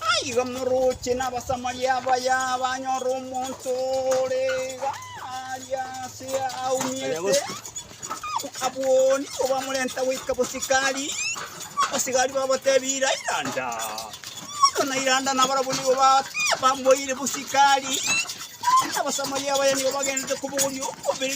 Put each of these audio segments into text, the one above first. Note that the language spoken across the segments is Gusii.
Naigo morooche n'Abasamaria abaya banyora omonto ore iga aria aase aumia ase abwoni, kobamorenta goika bosikari. Abasigari babateebia, Ira iranda! Oyo na iranda nabarabwo nigo ba- bamoire bosikari, na Abasamaria abaya nigo bagenderete kobogoria omobere.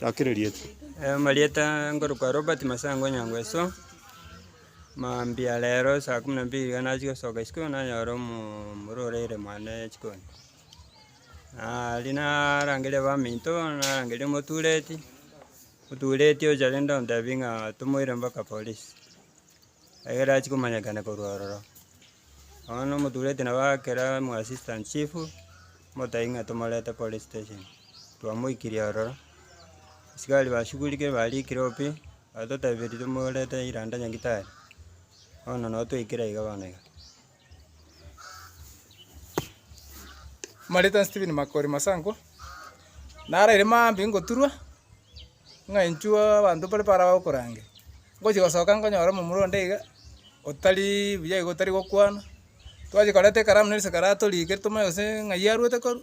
Gaki rerieta. Amarieta nkorokwa Robert Masango Nyangweso, mambia rero saa kumi na mbili iga nachia gosoka isiko nanyora omorwa oraire mwane chikoni. Aria narangeria baminto narangeria omotureti, otureti ocha rende ontebia ng'a tomoire mpaka polisi. ekero achia komanyekana korwa ororo. Bono omotureti nabo agakera omo assistant chief, motebi ng'a tomorete police station, twamoikirie ororo, askari bashugurikire bariikire obo pi, batotebia riria tomorete ira ande nyagitari, bono nabo twaikire iga bono iga. Marita Stephen Makori Masango, naraire maambia ngoturwa, ng'ainchwa abanto mbare baraba okorange. Ngochia gosoka nkonyora omomura onde iga, otari buya iga otari gokwana, twachia koreta ekaramu na risaga ratorikire tomanye gose ng'ai arwete korwa.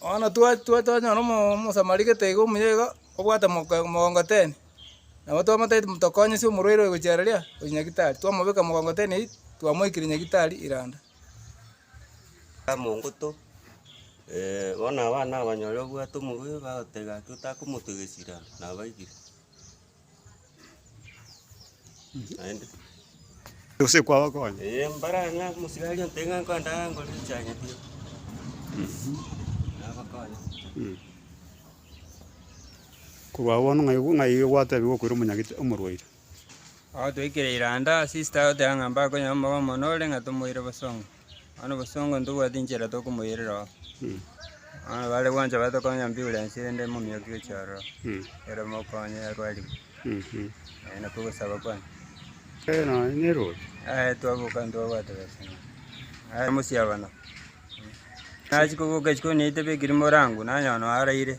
Bono twanyora Omosamari gete iga omuya iga, obwate mogongoteni, nabo twamotebia ati tokonyesie omorwaire oyo gochia riria? Gochia nyagetari. Twamobeka mogongoteni aywo, twamoikire nyagetari Iranda. Mongoto bono abana abanyore obwate omorwaire bagoteba ati otakomotegia esira, nabaigire. Naende Gose kwaba konya. eh, mbare ang'e omosigari aria ontebe ng'a nkonde aa ngore echai nyabio. Nabakonya. Korwa bono ng'ai ng'ai gwatebiwa okoira omonyagete omorwaire. Agotoikera eranda sister agoteba ng'a mbakonye omoba omonore ng'a tomoire bosongo. Bono obosongo ntobwati inchera tokomoirera oo. Bono bare gwancha bare tokonya ambiurensi rende momioki gochia ororo, ere omokonye arwarigwe. Ee nako ogosaba kwane. Aye twaboka ntobwate besa ng'a aye mosiabana. Nachia koboka isiko niaite beka rimo orangwe, nanyora noaraire.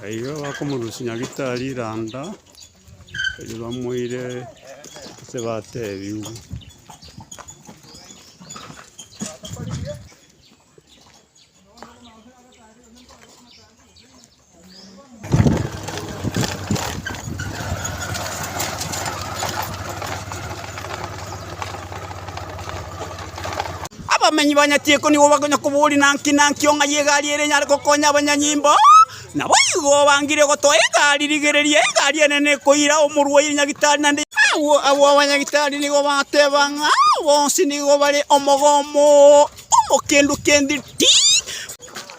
Naiga bakomorusia Nyagetari randa erio bamoire ase bateebigwe. Abamenyi ba Nyachiko nigo bakonya koboria naki naki o ng'ai egari ere enyare gokonya abanyanyimbo. Naboigo obangire gotoa egari rigereria egari enene ekoira omorwaire nyagitari naende yabwate. Agwo abwo abanyagitari nigo bateba ng'a bonsi nigo bare omogomo. Omokendo kende tii!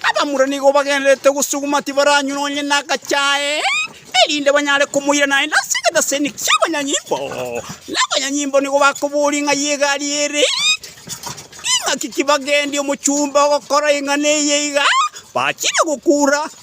Abamura nigo bagendererete gosuguma, tibaranywa nonye nagachae, erinde banyare komoira naende ase egetaseni ki'abanyanyimbo. Na abanyanyimbo nigo bakoboria ing'ai y'egari ere, Ing'aki ki bagendi omochumba ogokora ing'ana eye iga? Bachire gokura,